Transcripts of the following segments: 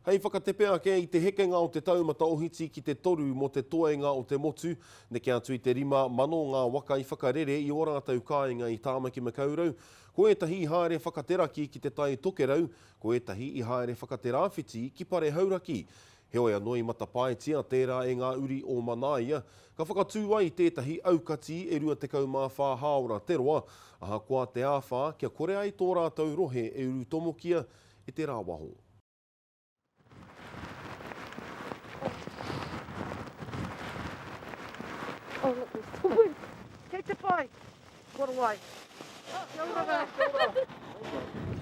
Hei whakatepe ake i te hekenga o te taumata ohiti ki te toru mō te toenga o te motu, neke atu i te rima mano ngā waka i whakarere i ō rātou kāinga i Tāmaki Makaurau, ko ētahi i haere whakateraki ki Te Tai Tokerau, ko ētahi i haere whakaterāwhiti ki Parehauraki. Heoi anō i matapaetia tērā e ngā uri o Manaia, ka whakatū ai tētahi aukati e 24 hāora te roa, ahakoa te āwhā kia kore ai tō rātou rohe e urutomokia e te rāwaho.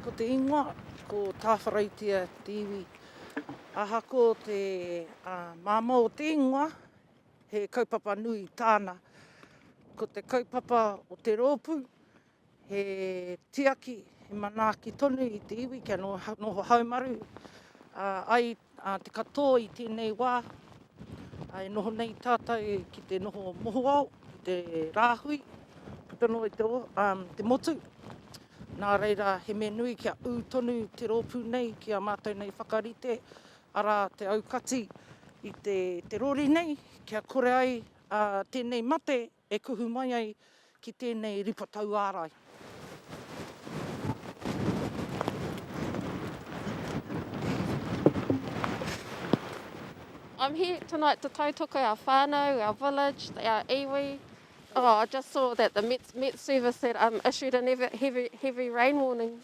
Ko te ingoa, ko Tāwharautia te iwi. Ahako te māmā o te ingoa, he kaupapa nui tāna. Ko te kaupapa o te rōpū, He tiaki, he manaaki tonu i te iwi kia noho haumaru ai te katoa i tēnei wā. E noho nei tātou ki te noho mohoao, ki te rāhui, puta noa i te motu. Nā reira, he mea nui kia ū tonu te rōpū nei ki a mātou nei whakarite, arā, te aukati i te rori nei kia kore ai tēnei mate E kuhu mai ai ki tēnei ripa tauārai. I'm here tonight to tautoko our whānau, our village, our iwi. Oh, I just saw that the Met, Met Service had um, issued a heavy, heavy rain warning.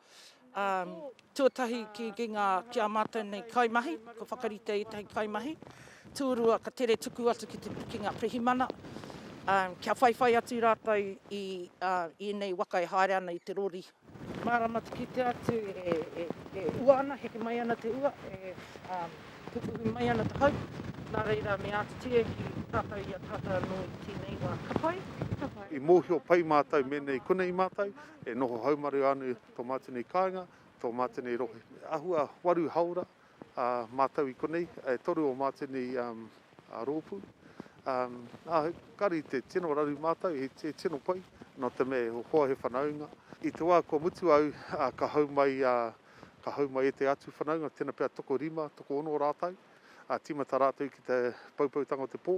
Tuatahi ki a mātou nei kaimahi, kua whakaritea ētahi kaimahi. Tūrua, ka tere tuku atu ki te pikinga pirihimana, kia whaiwhai atu rātou i ēnei waka e haere ana i te rori. Mārama te kite atu e ua ana, heke mai ana te ua, e pupuhi mai ana te hau, nā reira me ātiti e ki tātou i a tātou anō i tēnei wā. Ka pai, ka pai. I mōhio pai mātou mēnei konei mātou, E noho haumaru anu tō mātene kāinga, tō mātene rohe. Ahua waru haora a mātou i konei, e toru o mātene rōpū. Kari te tino raru mātou, he tino pai, nō te mea e hoa he whanaunga. I te wā kua mutu au, ka hau mai, ka hau mai e te atu whanaunga, tena pea toko rima, toko ono rātou, tīmata rātou ki te poupoutanga o te pō.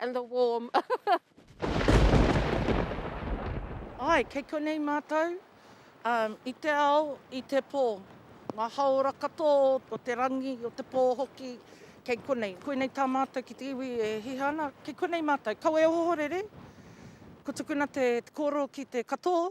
and the warm. Ai, kei konei mātou, um, i te ao, i te pō. Ngā haora katoa o te rangi, o te pō hoki, kei konei. Koinei tā mātou ki te iwi e hiha ana, kei konei mātou. Kawe ohorere, ko tukuna te kōrō ki te katoa.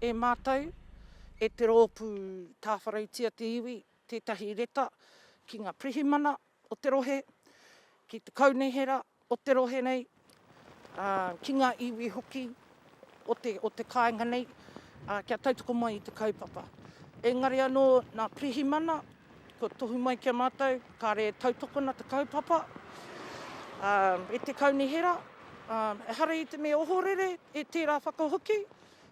e mātou, e te rōpū tāwharautia te iwi, tētahi reta ki ngā pirihimana o te rohe, ki te kaunihera o te rohe nei, ā, ki ngā iwi hoki o te, o te kāinga nei, ā, kia tautoko mai i te kaupapa. Engari anō, nā pirihimana, kua tohu mai ki a mātou, kāre e tautokona te kaupapa, ā, e te kaunihera, ā, ehara i te mea ohorere, e tērā whakahoki,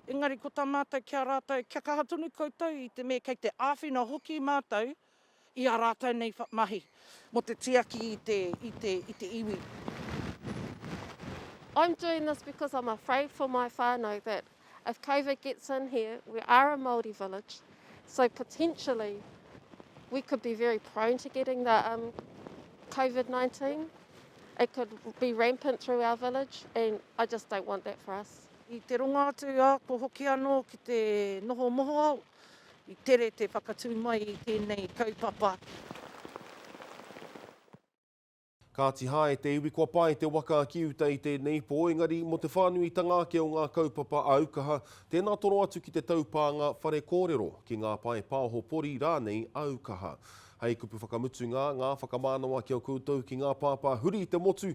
Engari ko tā mātou ki a rātou, kia kaha tonu koutou i te mea kei te āwhina hoki mātou i ā rātou nei mahi mō te tiaki i te iwi. I'm doing this because I'm afraid for my whānau that if Covid gets in here, we are a Māori village, so potentially we could be very prone to getting the Covid 19, it could be rampant through our village and I just don't want that for us. I te ronga atu a ako hoki anō ki te noho mohoao, i tere te whakatū mai i tēnei kaupapa. Kāti hae te iwi kua pae te waka ki uta i tēnei pō, engari mō te whānuitanga ake o ngā kaupapa aukaha, tēnā toro atu ki te taupānga whare kōrero, ki ngā pae paoho pori rānei aukaha. Hei kupu whakamutunga, ngā whakamānawa ki a koutou ki ngā pāpā huri i te motu,